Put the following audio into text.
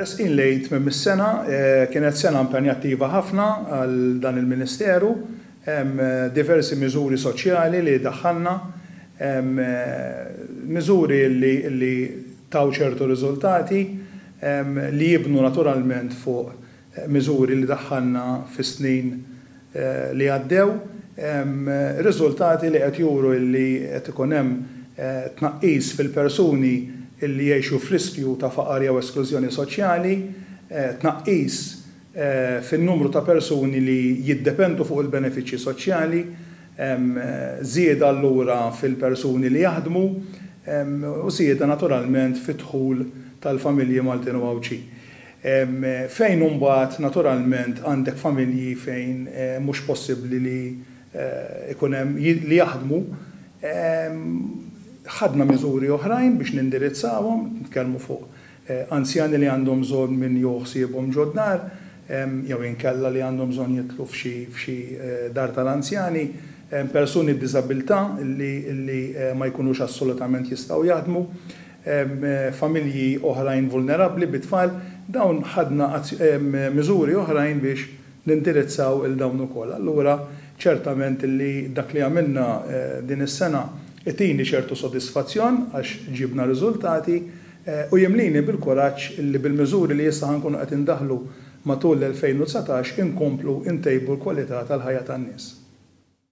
Resqin lejn tmiem is-sena, kienet sena impenjattiva ħafna għal dan il-Ministeru. Hemm diversi miżuri soċjali li daħħalna, miżuri li taw ċertu riżultati li jibnu naturalment fuq miżuri li daħħalna fis-snin li għaddew, riżultati li qed juru li qed ikun hemm tnaqqis fil-persuni li jgħixu f'riskju ta' faqar jew esklużjoni soċjali, tnaqqis fin-numru ta' persuni li jiddependu fuq il-benefiċċji soċjali, żieda allura fil-persuni li jaħdmu u żieda naturalment fid-dħul tal-familji Maltin u Għawdxin. Fejn imbagħad naturalment għandek familji fejn mhux possibbli li jkun hemm li jaħdmu, ħadna miżuri oħrajn biex nindirizzawhom, nitkellmu fuq anzjani li għandhom bżonn min jieħu ħsiebhom ġod-dar, jew inkella li għandhom bżonn jidħlu f'xi dar tal-anzjani, persuni b'diżabilità li ma jkunux assolutament jistgħu jaħdmu. familji oħrajn vulnerabbli bi tfal, dawn ħadna miżuri oħrajn biex nindirizzaw il dawn ukoll. Allura ċertament illi dak li għamilna din is-sena itini ċertu sodisfazzjon għax ġibna riżultati u jimlini bil-kuraġġ illi bil-miżuri li issa ħa nkunu qed indaħħlu matul l-2019 inkomplu ntejbu l-kwalità tal-ħajja tan-nies.